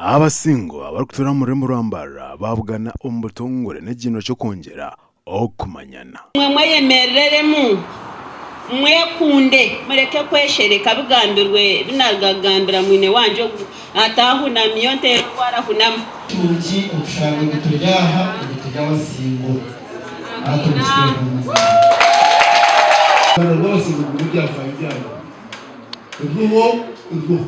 Abasingo abarikutuura omu rurimi rwa Mbarara baabugana omu butongore n'ekigyinwa ky'okwongyera okumanyana. Imwe mweyemerereremu, mwekunde, mureke kweshereka bigambirwe ebi naaruga kugambira mwine wangye ogu, ataahunami, yo nteera ogu arahunama. Kirungi okushanga ngu turi aha obwe turi abasingo. Hati obwe kitwehwa omu ngaro. Engaro bwose nigugumu ebyafaayo byabo. Ebyoho, ebyoho.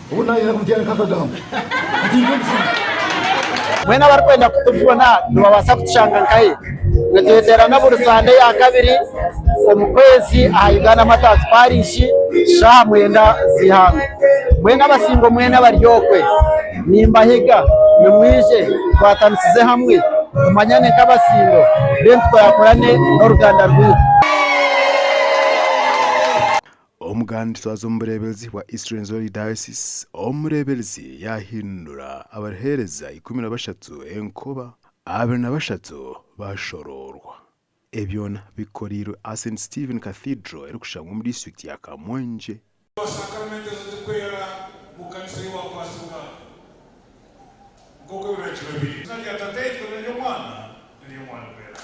Obu naayenda kubyarika akagambo ati ndi omuzimu. Mbwenu abarikwenda kutubona nibabaasa kutushanga nkahi? Nitweterana buri Sande ya kabiri omu kwezi aha Uganda Martyrs Parish shaaha mwenda z'eihangwe. Mbwenu abasingwa mwena abari okwe nimbahiga nimwije tukwatanisize hamwe tumanyane nk'abasingwa then tukorakorane n'oruganda rwaitu. Omuganda nitutwaza omu bureeberezi bwa East Rwenzori Diocese, omureeberezi yaahindura abariheereza ikumi na bashatu enkoba, abiri na bashatu baashoroorwa. Ebi byona bikoreirwe aha St Stephen Cathedral erikushangwa omu disiturikiti ya Kamwenje. Sakramentu ezo zikwera mu kanisa ei waakwatsibwa nk'oku ebiragiro biri. Eizina rya Tataitwe n'ery'Omwana n'ery'Omwana Omwerangi.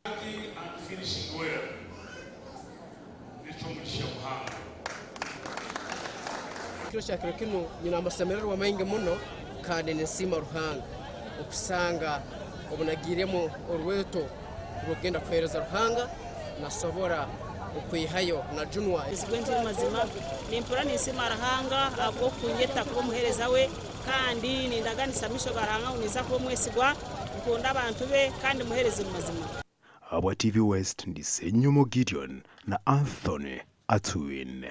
Ati I'm finishing well nekyomugisha muhango. Ekiro kya kiro kinu nyine amasemererwa maingi muno kandi ninsiima Ruhanga okusanga obunagiiremu orweto rw'okugenda kuheereza Ruhanga nasobora okwehayo na junwa. Nzigwe nti mazima nimpurra ninsiima Ruhanga ahabw'okunyeta kuba omuheereza we kandi nindaganisa amisho ga Ruhanga ngu ninza kuba omwesigwa. Nkunda abantu be kandi muheereze omu mazima. Habwa TV West ndi Ssenyomo Gideon na Anthony Atwine.